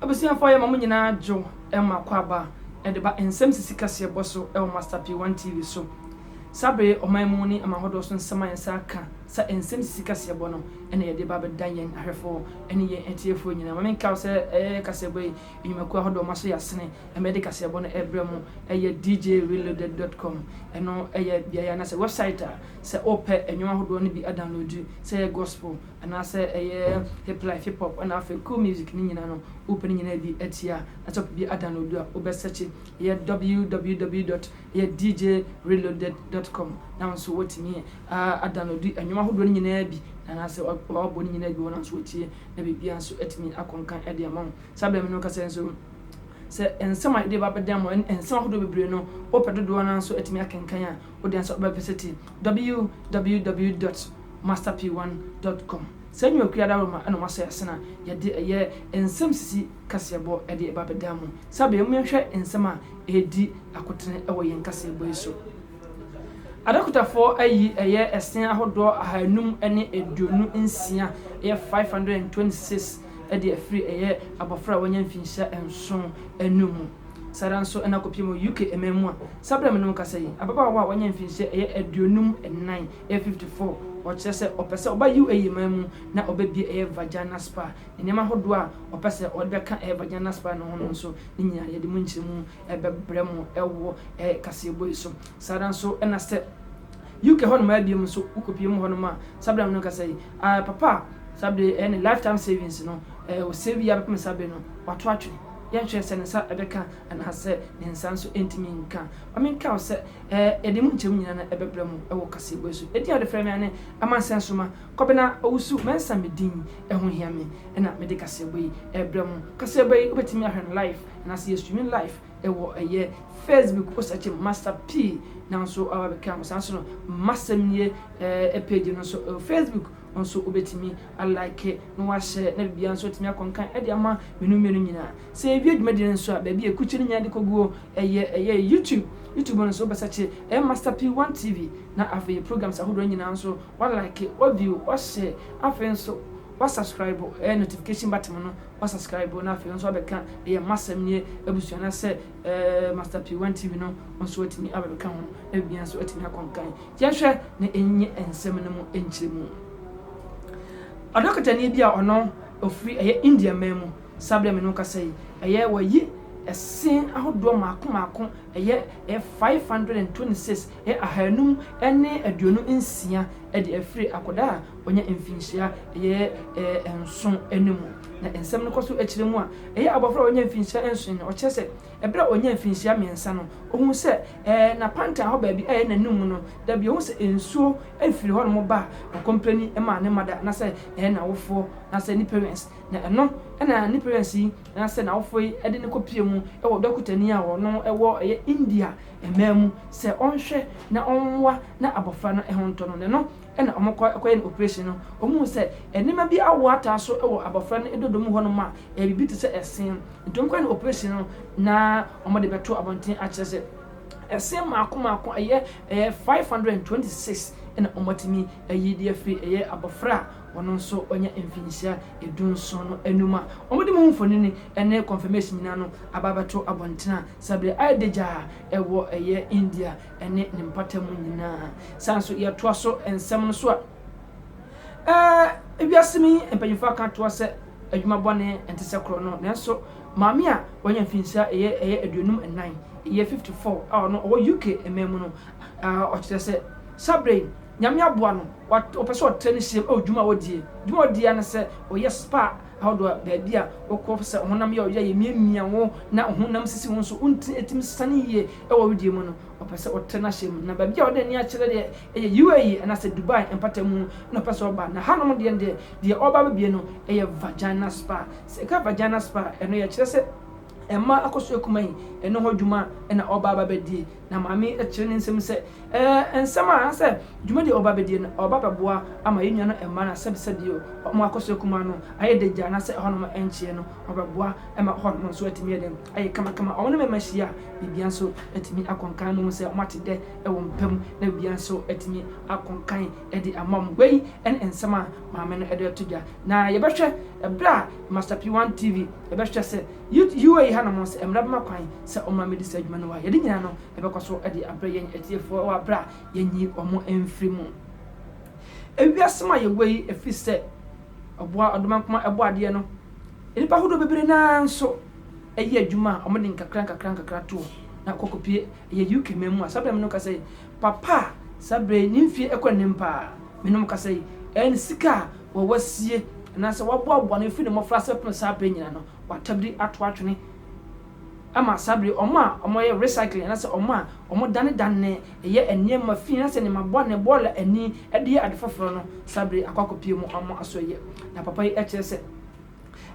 Abusuafo ayɛ ma mo nyinaa dwo ma akwaaba de ba nsɛm sisi kaseɛ bɔ so wɔ Master P one TV so. Saa bere yi ɔman mu ne amahodoɔ so nsɛm a yɛn nsa aka sɛ nsɛm sisi kaseɛ bɔ no na yɛde ba bɛda yɛn ahwɛfoɔ ne yɛn atiefoɔ nyinaa. Ma menka wo sɛ ɛyɛ kaseɛ bɔ yi nnwumakuo ahodoɔ ma so yɛ asene ma yɛde kaseɛ bɔ no ɛbrɛ mo ɛyɛ djreloaded dot com ɛno ɛyɛ beaeɛ anaasɛ website a sɛ wopɛ nnwom ahodoɔ no bi adownloadu sɛ ɛyɛ gospel anaa sɛ ɛyɛ hip life, hip hop na afei cool music ne nyinaa no wo pɛ ne nyinaa bi atie a na sɛ wopɛ bi a download a wobɛ search ɛyɛ www dot ɛyɛ dj reloaded dot com na wo nso watumi a download ɛnwom ahodoɔ no nyinaa bi na anaa sɛ wabɔ ne nyinaa bi wɔ na nso watie na biribiara nso atumi akɔ nkan ɛde ama wo saa bɛn no kasɛ nso sɛ nsɛm a yɛde ba bɛdan mu nsɛm ahodoɔ bebree no wopɛ dodoɔ no nso atumi akenkan a wode asɛ wobɛvisiti www dot master p one dot com. Saa nnwumakuo adaworoma na wɔasɔ yɛ asen a yɛde ɛyɛ nsɛm sisi kaseɛbɔ de ba bɛdaa mu. Saa berɛ yi mom yɛnhwɛ nsɛm a ɛredi akotene wɔ yɛn kaseɛbɔ yi so. Adɔkotafoɔ ayi ɛyɛ ɛsen ahodoɔ ahanum ne aduonu nsia, ɛyɛ five hundred and twenty six, de afiri ɛyɛ abɔfra a wanya mfinhyia nson no mu. Saa ara nso na kɔpie mu UK man mu a saa berɛ a me ne wo kasa yi, ababaawa a wanya mfinhyia ɛyɛ aduonum nnan, ɛyɛ fifty four, ɔkyerɛ sɛ ɔpɛ sɛ ɔba UAE man mu na ɔbɛbie ɛyɛ Vagina Spa. Nneɛma ahodoɔ a ɔpɛ sɛ ɔde bɛka ɛyɛ Vagina Spa no ho no nso, ne nyinaa yɛde mu nkyerɛmu bɛbrɛ mo wɔ ɛyɛ kaseɛbɔ yi so. Saa ara nso na sɛ UK hɔ nom abie mu nso wo kɔpie mu hɔ nom a saa berɛ a me ne wo kasa yi, papa a saa berɛ yi ɛyɛ ne lifetime savings no, ɔsave yɛ ara bɛpem saa berɛ no, wato atwene. Yɛ nkyerɛ sɛ ne nsa bɛka anaasɛ ne nsa nso ntumi nka. Ma menka wo sɛ, ɛɛ, yɛde emu nkyɛmu nyinaa na ɛbɛbrɛ mo wɔ kaseɛbɔ yi so. Edin a wɔde frɛ me ara ne Amansɛn Soma, Kɔbena Owusu Mensah me din. Ɛho hia me na mede kaseɛbɔ yi rebrɛ mo. Kaseɛbɔ yi, wobɛtumi ahwɛ no live anaasɛ yɛ streaming live wɔ ɛyɛ Facebook, wo sɛkye Master P na wo nso woaba abɛka ho. Saa nso no, M'asɛm nie page no nso wɔ Facebook. nso wobɛtumi a like na woahyɛ na biribiara nso atumi akɔ nkan de ama mmienu mmienu nyinaa. Sɛ yɛwie dwumadie no nso a, baabi a ɛkukye no nyinaa de kɔguo ɛyɛ ɛyɛ YouTube. YouTube no nso wobɛsɛkye ɛyɛ Master P One TV na afei yɛ programs ahodoɔ nyinaa nso wa like, wa view, wa share, afei nso wa subscribe ɛyɛ notification button no wa subscribe na afei nso wabɛka ɛyɛ M'Asɛm Nie abusua no sɛ Master P One TV no nso atumi abɛbɛka ho, na biribiara nso atumi akɔ nkan. Yɛnhwɛ na ɛnye nsɛm no mu nkyerɛmu. Ɔdɔkotani bi a ɔno ɔfiri ɛyɛ India man mu, saa berɛ a me ne wo kasa yi, ɛyɛ wayi ɛse ahodoɔ mmaako mmaako, ɛyɛ 526, ɛyɛ ahanum ne aduonu nsia de afiri akwadaa a Ɔnya mfinhyia bɛyɛ nson no mu, na nsɛm no kɔ so kyerɛ mu a, ɛyɛ abofra a wanya mfinhyia nson no. Ɔkyerɛ sɛ, bere a onyaa mfinhyia mmiɛnsa no, ohui sɛ n'apantan hɔ baabi a ɛyɛ n'anom no, da bi ohu sɛ nsuo firi hɔnom ba a, ɔkɔmpleni ma ne mother anaasɛ n'awofoɔ anaasɛ ne parents, na ɛno na ne parents yi anaasɛ n'awofoɔ yi de no kɔpue mu wɔ dɔkotani a ɔno wɔ India mmaa mu sɛ ɔnhwɛ na ɔmmoa na abofra no ho ntɔ no, na ɛno Ɛna ɔmo kɔ kɔyɛ no oprehyɛn no, ɔmo hu sɛ nneɛma bi awo ataa so wɔ abɔfra no dodo mu hɔ nom a ɛyɛ biribi te sɛ ɛsee. Nti ɔmo kɔyɛ no oprehyɛn no na ɔmo de bɛto abɔnten akyerɛ sɛ ɛsee mmaako mmaako ɛyɛ ɛyɛ five hundred and twenty six ɛna ɔmo atumi ayi de afiri ɛyɛ abɔfra a ɔno nso wanya mfinhyia edu nson no anum a ɔmo de mo ho mfonini ɛne confirmation nyinaa no aba abɛto abɔnten a saa bere ayɛ dagyaa ɛwɔ ɛyɛ India ne ne mpata mu nyinaa. Saa nso yɛtoa so nsɛm no so a, ɛɛ wiase mi mpanyinfoɔ aka toa sɛ adwuma bɔne nte sɛ korɔ no, nanso maame a wanya mfinhyia ɛyɛ ɛyɛ aduonum nnan, ɛyɛ 54 a ɔno ɔwɔ UK mmaa mu no, ɛɛ ɔkyerɛ sɛ saa berɛ yi nyame aboa no, ɔpɛ sɛ ɔtrɛ ne hyɛm ɛwɔ dwuma a ɔdie. Dwuma a ɔdie ara ne sɛ ɔyɛ spa ahodoɔ a baabi a wokɔ sɛ ɔhonam yɛ ɔyɛ a yɛmiamia wo na ɔhonam sisi wo nso wontumi ɛtumi sane yie wɔ wedeɛ mu no ɔpɛ sɛ ɔtrɛ no ahyɛ mu na baabi a wɔde ani akyerɛ deɛ ɛyɛ UAE anaasɛ Dubai mpatamu na ɔpɛ sɛ ɔba na hanom deɛ deɛ deɛ ɔba bɛbie no ɛyɛ Vagina Spa sɛ ɛka Vagina Spa ɛno yɛkyerɛ sɛ mmaa akɔso akumaa yi ɛno ho adwuma na ɔba aba bɛdie. Na Maame kyerɛ ne nsam sɛ, Ɛɛ, nsɛm a anaasɛ dwumadi a ɔba bɛdie no, ɔba bɛboa ama yɛn nuanom mmaa no asɛbi sɛbi o, wɔn akɔsua kumaa no ayɛ dɛ gya anaasɛ ɛhɔnom nkyeɛ no, ɔbɛboa ma hɔnom nso atumi ayɛ dɛn? ayɛ kamakama. Wɔn ne me mma hyia a, biribiara nso atumi akɔ nkan, mohu sɛ wɔate dɛ wɔ me pɛ mu, na biribiara nso atumi akɔ nkan de ama wɔn. Wei ne nsɛm a Maame no de reto dwa. Na yɛbɛhwɛ berɛ a Master P1 TV bɛhwɛ sɛ UA yi hanom sɛ mmara bɛma kwan sɛ wɔma medi saa dwuma no a yɛde nyinaa no bɛkɔ so de abrɛ yɛn atiefoɔ wɔ aberɛ a yɛnyi wɔn mfiri mu. Ewiase mu a yɛwɔ yi, ɛfiri sɛ ɔboa ɔdomankoma ɛbɔ adeɛ no, nnipa ahodoɔ bebree no ara nso yɛ adwuma a wɔde nkakra nkakra nkakra toɔ na kɔ kɔpie. Ɛyɛ UK man mu a saa berɛ no meka sɛ Papa a saa berɛ yi ne mfeɛ rekɔ anim pa ara, me ne mo kasa yi, ɛyɛ ne sika a wɔ wasie anaasɛ waboaboa no firi ne mmɔfraase bɛpem saa berɛ nyinaa no, watabiri ato atwene ama saa berɛ yi wɔn a wɔyɛ recycling anaasɛ wɔn a wɔdanedane yɛ nneɛma fi anaasɛ nneɛma bɔne, bɔɔla ani de yɛ ade foforɔ no, saa berɛ yi akɔ akɔpue mu wɔn aso yɛ. Na papa yi kyerɛ sɛ.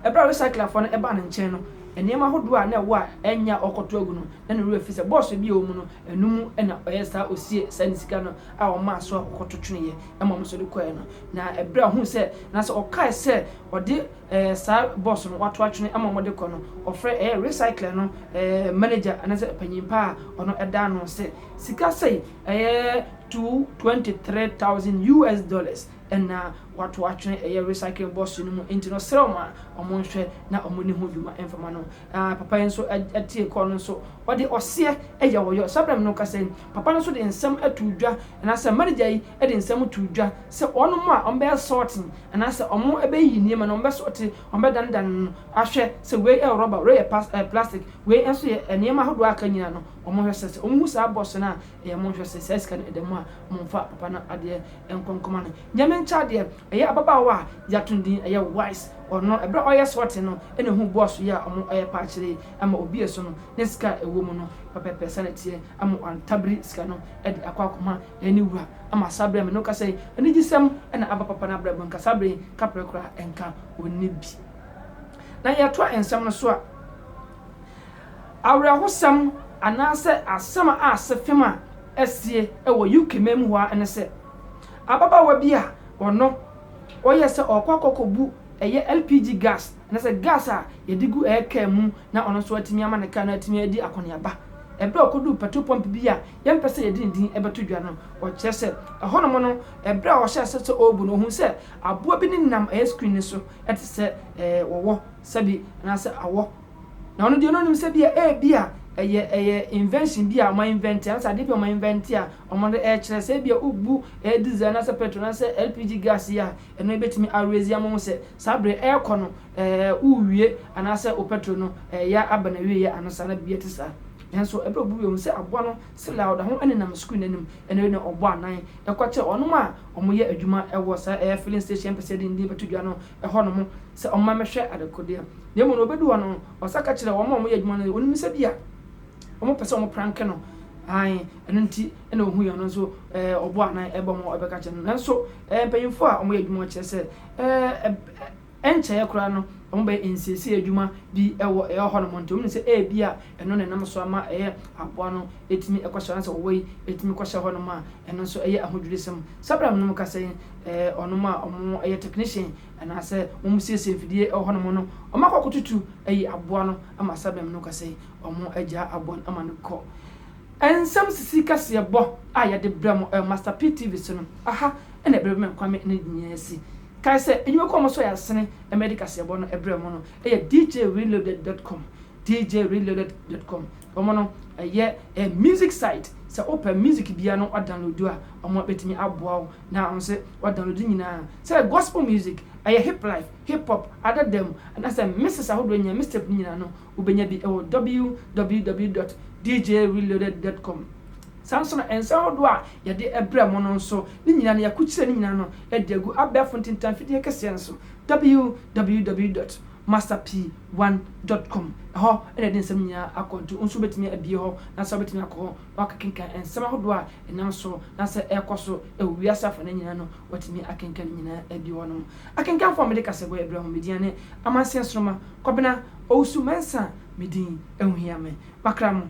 Bere a recyclerfo no baa ne nkyɛn no, nneɛma ahodoɔ a na ɛwɔ a ɛnyɛ a ɔrekɔto agu no, na ne werɛ afi sɛ bɔɔso bi a ɛwɔ mu no, ɛno mu na ɔyɛɛ saa osiee saa ne sika no a ɔmaa so a ɔkɔto tweneeɛ ma wɔn nso de kɔeɛ no. Na bere a ɔhuu sɛ, anaasɛ ɔkae sɛ ɔde ɛɛ saa bɔɔso no wato atwene ama wɔde kɔ no, ɔfrɛɛ ɛyɛ recycler no ɛɛ manager anaasɛ panyin pa a ɔno da ano sɛ, Sika sei, ɛyɛ two twenty three thousand US dollars. na wɔatow atwene ɛyɛ recycling bɔs no mu, enti no ɔsrɛɛ wɔn a wɔnhwɛ na wɔnni ho dwuma mfama no. Ah, papa yi nso tiee call no nso ɔde ɔseɛ yɛ ɔyɔ. Saa berɛ no no kasa yi, papa no nso de nsɛm too dwa, anaasɛ manager yi de nsɛm too dwa sɛ wɔnom a wɔbɛyɛ sorting, anaasɛ wɔbɛyiyi nneɛma no, wɔbɛsɔɔte, wɔbɛdanedane no ahwɛ sɛ wei yɛ rɔba, wei yɛ pas, ɛɛ plastic, wei nso yɛ nneɛma ahodoɔ a aka nyinaa no, wɔnhwɛ sɛ sɛ wɔhu saa bɔs no a, Ɛyɛ monhwɛ se saa sika no ɛda mu a, monfa papa no adeɛ nkɔ nkɔma no. Nyɛ menkyɛ adeɛ, ɛyɛ ababaawa a yɛato no din ɛyɛ Wise, ɔno ɛberɛ a ɔreyɛ sorting no na ohuu boaso yi a wɔreyɛ paa akyerɛ yi ma obiee so no, ne sika a ɛwɔ mu no pɛpɛɛpɛ saa na ɛteɛ, ama wantabiri sika no de akɔ akɔma ne wura, ama saa berɛ a me ne wo kasa yi, anigyesɛm na aba papa no abrabɔ mu, nka saa berɛ yi kaprɛ koraa nka ɔnni bi. Na yɛtoa nsɛm no so a, Awerɛhosɛm anaasɛ asɛm a asefem a asie wɔ UK man mu hɔ ara ne sɛ, ababaawa bi a ɔno ɔyɛɛ sɛ ɔrekɔ akɔkɔbu ɛyɛ LPG gas anaasɛ gas a yɛde gu ɛyɛ kaa mu na ɔno nso atumi ama ne kaa no atumi adi akɔneaba. Ɛberɛ a ɔkɔduu petrol pump bi a yɛmpɛ sɛ yɛde ne din bɛto dwa no, ɔkyerɛ sɛ ɛhɔnom no, ɛberɛ a ɔhyɛɛ aseɛ sɛ ɔrebu no, ɔhuu sɛ aboa bi nenam ɛyɛ screen no so te sɛ wɔwɔ, sɛbi anaasɛ awɔ. Na ɔno deɛ no nim sɛ bia ebia ɛyɛ ɛyɛ invention bi a ɔma invent anasɛ adeɛ bi a ɔma invent a ɔmo de ɛkyerɛ sɛ ebia obu ɛyɛ diesel anasɛ petrol anasɛ LPG gas yi a ɛno ebetumi arezi ama ho sɛ saa berɛ ɛɛkɔ no ɛɛ wowie anasɛ wo petrol no ɛɛya aba na wieɛ ano saa na biribi ɛte saa. Nanso ɛberɛ obu wie hu sɛ aboa no sila ɔda ho ɛnenam screen no anim ɛna wei na ɔbɔ anan ɛkɔkyerɛ ɔnom a ɔmo yɛ adwuma ɛwɔ saa ɛyɛ filling station mpɛsɛ yɛde ne din bɛto dwa no hɔ no ho sɛ ɔmma mɛhwɛ adekodeɛ no, na mmom no ɔbɛdu hɔ no, ɔsa ka kyerɛ wɔn a wɔyɛ adwuma no sɛ ɔnim sɛ bi a wɔpɛ sɛ wɔpranke no, ae, ɛno nti na ɔhui ɔno nso ɛɛ ɔbɔ anan ɛbɔ mu ɛbɛka kyerɛ no, nanso ɛɛ mpanyinfoɔ a wɔyɛ adwuma kyerɛ sɛ ɛɛ ɛnkyɛɛ koraa no wɔbɛyɛ nsiesie adwuma bi ɛwɔ ɛyɛ hɔ nom nti wɔn sɛ ɛɛ bi a ɛno na ɛnam so ama ɛyɛ aboa no ɛtumi ɛkɔhyɛ anaasɛ ɔwɔ yi ɛtumi kɔhyɛ hɔ nom a ɛno nso ɛyɛ ahodwirisɛm sɛ bɛrɛ nom kasa yi Wɔnom a wɔyɛ technician anaasɛ wɔsiesie mfidie wɔ hɔnom no, wɔakɔ akɔtutu ayi aboa no ama Sabem no ka sɛ wɔagyaa aboa no ama no kɔ. Nsɛm sisi kaseɛ bɔ a yɛde brɛ mo wɔ Master P TV so no, aha na Brɛbɛmɛ Kwame no nyinaa si. Kae sɛ nnwumakuo a wɔsɔ yɛn asene ma yɛde kaseɛ bɔ no brɛ mo no yɛ DJReloaded dot com, DJReloaded dot com. Wɔn no yɛ music site, sɛ wopɛ music biara na woadownloadu a, wɔbɛtumi aboa wo na ɔsɛ wɔdownload nyinaa sɛ gospel music, ɛyɛ hip life, hip hop, adada mu anaasɛ mixes ahodoɔ nyinaa, mixtape no nyinaa no wobɛnya bi wɔ www dot djreloaded dot com. Saa nso no nsa ahodoɔ a yɛde brɛ mo no nso ne nyinaa no yɛakɔkyerɛ ne nyinaa no de agu abɛɛfo ntintan fidie kɛseɛ no so www dot master p one dot com ɛhɔ na yɛde nsɛm no nyinaa akɔ nti wo nso wobɛtumi abie hɔ na sɛ wobɛtumi akɔ hɔ Wɔakenkan nsɛm ahodoɔ a ɛnam so na sɛ ɛrekɔ so wɔ wiase afanan nyinaa no, wɔatumi akenkan ne nyinaa adi hɔ nom. Akenkanfoɔ a wɔde kasaguai brɛ ho, me din ne Amanseɛ Nsoromma, Kɔbena Owusu-Mensah me din, ɛho hia me, makra mo.